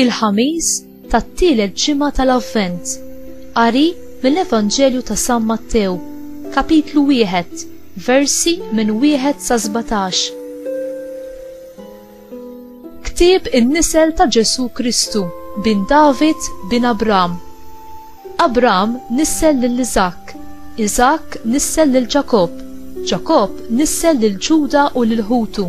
il-ħamis tat-tielet ġimgħa tal-Avvent. Qari mill-Evanġelju ta' San Mattew, kapitlu wieħed, versi minn wieħed sa 17. Ktieb in-nisel ta' Ġesù Kristu, bin David, bin Abram. Abram nissel lil Iżakk, Iżakk nissel lil Ġakobb, Ġakobb nissel lil Ġuda u lil ħutu.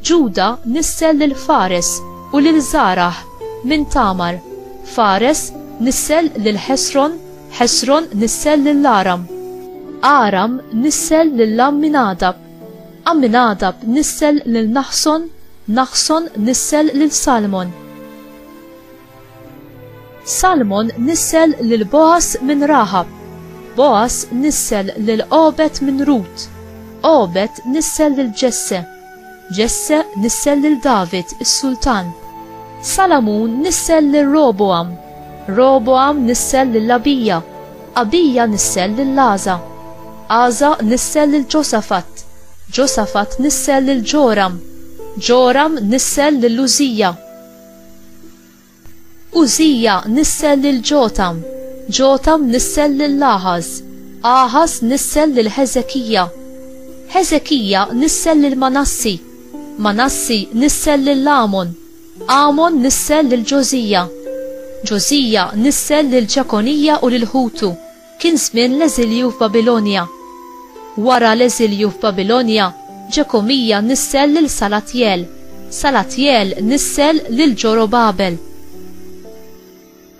Ġuda nissel lil Fares u lil Żarah minn Tamar, Fares nissel lil Ħesron, Ħesron nissel lil Aram. Aram nissel lil Amminadab. Amminadab nissel lil Naħson, Naħson nissel lil Salmon. Salmon nissel lil Boas minn Raħab, Boas nissel lil Obed minn Rut, Obed nissel lil Ġesse, Ġesse nissel lil David is-Sultan. Salamun nissel lil Roboam, Roboam nissel lil Abija, Abija nissel lil Għaża. Għaża nissel lil Ġosafat. Ġosafat nissel lil Ġoram. Ġoram nissel lil Użija. Użija nissel lil Ġotam. Ġotam nissel lil Aħaż. Aħaż nissel lil Ħeżekija. Ħeżekija nissel lil Manassi. Manassi nissel lil Amon. Amon nissel lil Ġożija. Ġożija nissel lil Ġekonija u lil ħutu. Kien żmien l-eżilju f'Babilonja. Wara l-eżilju f'Babilonja, Ġekomija nissel lil Salatjel. Salatjel nissel lil Ġorobabel.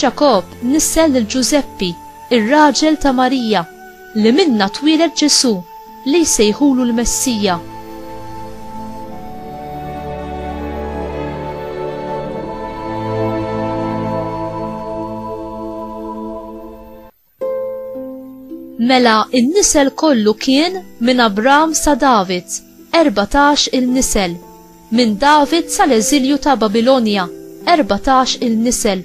Ġakobb nissel lil Ġużeppi, ir-raġel ta' Marija, li minnha twieled Ġesù, li jsejħulu l-Messija. Mela n-nisel kollu kien minn Abram sa David, 14 il-nisel, minn David sal-eżilju ta' Babilonja, 14 il-nisel,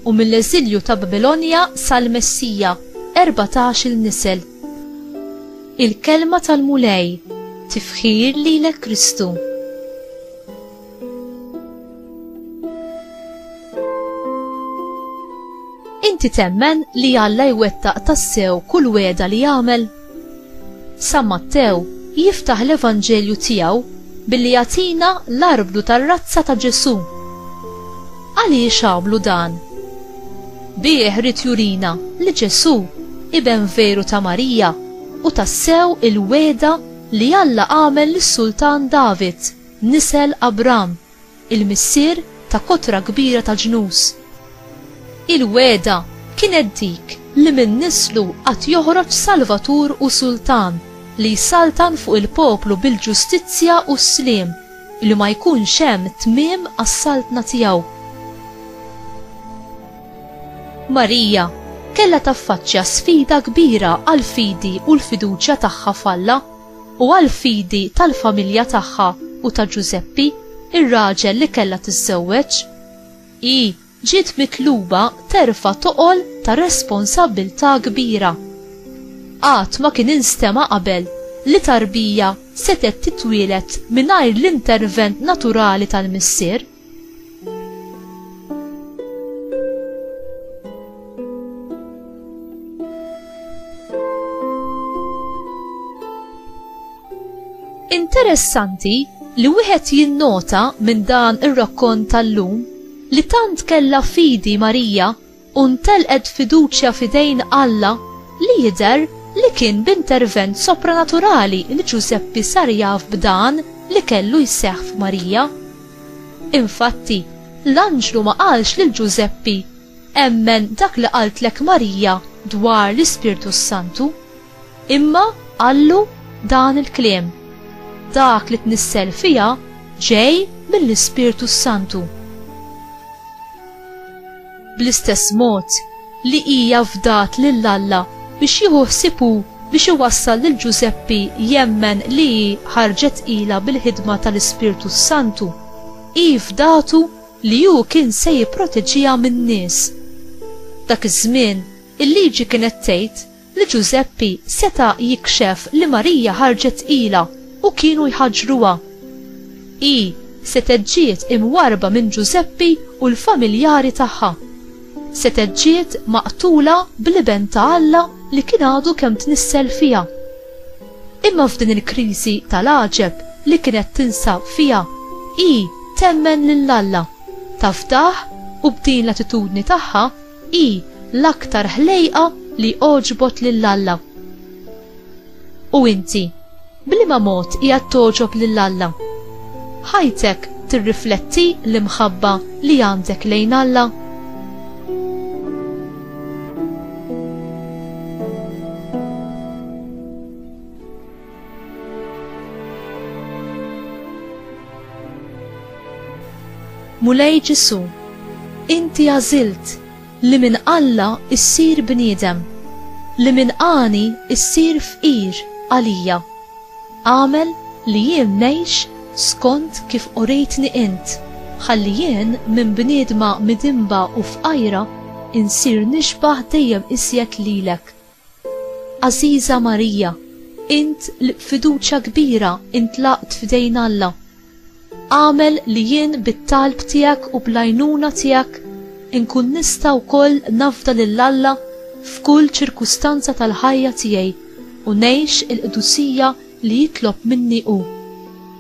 u mill-eżilju ta' Babilonja sal-Messija, 14 il-nisel. Il-kelma tal-Mulej, tifħir lilek Kristu. Inti temmen li Alla jwettaq tassew kull weda li jagħmel? San Mattew jiftaħ l-Evanġelju tiegħu billi jagħtina l-arblu tar-razza ta' Ġesù. Għaliex għamlu dan? Bih rid jurina li Ġesù iben veru ta' Marija u tassew il-weda li Alla għamel lis-Sultan David. Nisel Abram, il-missier ta' kotra kbira ta' ġnus. Il-wegħda kienet dik li minn nislu għad joħroġ Salvatur u Sultan li jsaltan fuq il-poplu bil-ġustizzja u s-sliem, li ma jkunx hemm tmiem għas-saltna tiegħu. Marija kellha taffaċċja sfida kbira għall-fidi u l-fiduċja tagħha f'Alla. u għall-fidi tal-familja tagħha u ta' Ġużeppi, ir-raġel li kellha tiżżewweġ, hi ġiet mitluba terfa' toqol ta' responsabbiltà kbira. Qatt ma kien instema' qabel li tarbija setgħet titwieled mingħajr l-intervent naturali tal-missier. Interessanti li wieħed jinnota minn dan ir-rakkont tal-lum li tant kellha fidi Marija u ntelqet fiduċja f'idejn Alla li jidher li kien b'intervent sopranaturali li Ġużeppi sar jaf b'dan li kellu jseħħ f'Marija. Infatti, l-anġlu ma qalx lil Ġużeppi, Emmen dak li qaltlek Marija dwar l-Ispirtu s-Santu. Imma qallu dan il-kliem, Dak li tnissel fiha ġej mill-Ispirtu s-Santu. Bl-istess mod li hija fdat lil Alla biex jieħu ħsieb hu biex iwassal lil Ġużeppi jemmen li hi ħarġet ilha bil-ħidma tal-Ispirtu s-Santu, hi fdatu li hu kien se jipproteġiha min-nies. Dak iż-żmien, il-Liġi kienet tgħid li Ġużeppi seta' jikxef li Marija ħarġet tqila u kienu jħaġġruha. Hi setgħet ġiet imwarrba minn Ġużeppi u l-familjari tagħha. Setgħet ġiet maqtula bl-Iben ta' Alla li kien għadu kemm tnissel fiha. Imma f'din il-kriżi tal-għaġeb li kienet tinsab fiha, hi temmen lil Alla, tafdah u b'din l-attitudni tagħha Hi l-aktar ħlejqa li għoġbot lil Alla. U inti, b'liema mod qiegħed togħġob lil Alla? Ħajtek tirrifletti l-imħabba li għandek lejn Alla? Mulej Ġesu, inti għażilt li minn Alla issir bniedem, li minn għani issir fqir għalija. Għamel li jien ngħix skont kif urejtni int, ħalli jien minn bniedma midinba u fqajra insir nixbah dejjem iżjed lilek. Għażiża Marija, int li b'fiduċja kbira intlaqt f'idejn Alla, agħmel li jien bit-talb tiegħek u bl-għajnuna tiegħek inkun nista' wkoll nafda lil Alla f'kull ċirkustanza tal-ħajja tiegħi u ngħix il-qdusija li jitlob minni hu.